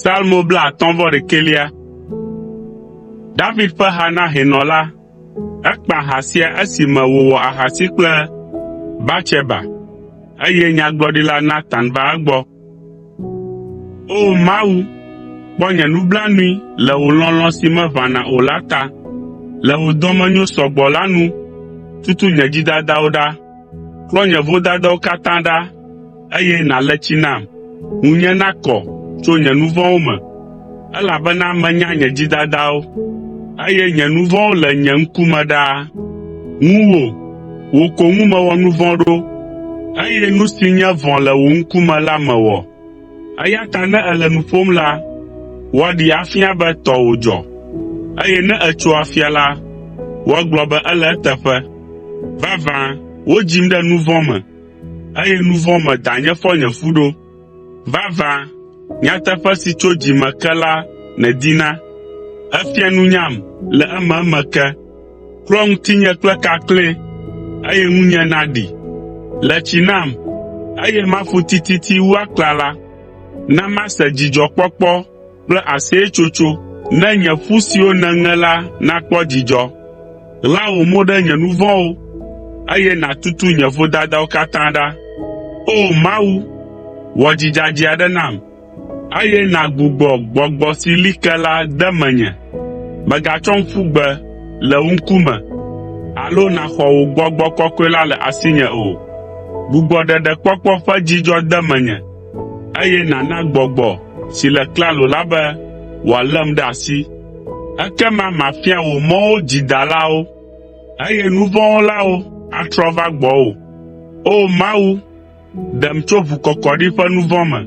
Salmo blaatɔ̃ vɔ ɖekɛlia. David ƒe ha na hɛnɔ la. Ekpa ha sia esime wòwɔ ahasi kple Batseba, eye Nyagblɔɖila Natan va egbɔ. O Mawu, kpɔ nye nublanui le wò lɔlɔ̃ si meʋãna o la ta, le wò dɔmenyo sɔ gbɔ la nu tutu nye dzidadawo ɖa. Klɔ nye vodadawo katã ɖa, eye nàle tsi nam. Ŋunye nakɔ tso nye nu vɔ̃wo me, elabena menya nye dzidadawo, eye nye nu vɔ̃wo le nye ŋkume ɖaa. Ŋuwò, wò ko ŋu mewɔ nu vɔ̃ ɖo, eye nu si nye vɔ̃ le wò ŋkume la mewɔ. Eya ta ne èle nu ƒom la, woaɖee afia be tɔwò dzɔ, eye ne ètso afia la, woagblɔ be ele eteƒe. Vavã, wodzim ɖe nu vɔ̃ me, eye nu vɔ̃ me danye fɔ nye fu ɖo. Vavã, nyateƒe si tso dzi me ke la nèdina, èfia nunyam le ememe ke. Klɔ ŋutinye kple kakle, eye ŋunye naɖi. Le tsi nam, eye maƒu tititi wu aklala. Na mase dzidzɔkpɔkpɔ kple aseyetsotso, ne nye ƒu siwo nèŋe la nakpɔ dzidzɔ. Ɣla wò mo ɖe nye nu vɔ̃wo, eye nàtutu nye vodadawo katã ɖa. O! Mawu, wɔ dzi dzadzɛ aɖe nam. Eye nàgbugbɔ gbɔgbɔ si li ke la de menye. Mègatsɔm ƒu gbe le wò ŋkume alo nàxɔ wò gbɔgbɔ kɔkɔe la le asinye o. Gbugbɔ ɖeɖekpɔkpɔ ƒe dzidzɔ de menye, eye nàna gbɔgbɔ si le klalo la be wòalém ɖe asi. Ekema mafia wò mɔwo dzidalawo, eye nu vɔ̃ wɔlawo atrɔ va gbɔwò. O Mawu, Ɖem tso ʋukɔkɔɖi ƒe nu vɔ̃ me,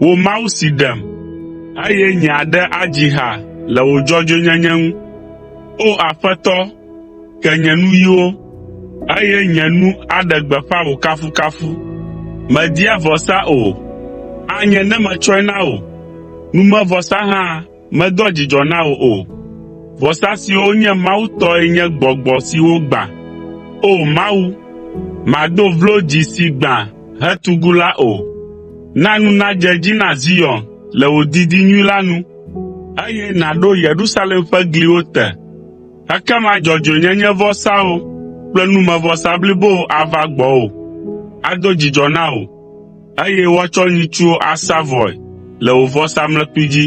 wò Mawu si ɖem, eye nye aɖe adzi ha le wò dzɔdzɔenyenye ŋu. O Aƒetɔ, ke nye nuyiwo, eye nye nu aɖe gbeƒã wò kafukafu. Mèdia vɔsa o, anye ne metsɔe na wò, numevɔsa hã. Medoa dzidzɔ na wò o. Vɔsa siwo nye Mawu tɔe nye gbɔgbɔ siwo gbã. O Mawu, màdo vlo dzi si gbã hetugu la o. Na nu nadze edzi na Zion le wò didi nyui la nu, eye nàɖo Yerusalem ƒe gliwo te. Ekema dzɔdzɔenyenyevɔsawo kple numevɔsa blibowo ava gbɔwò, ado dzidzɔ na wò. eye woatsɔ nyitsuwo asa vɔe le wò vɔsamlekpui dzi.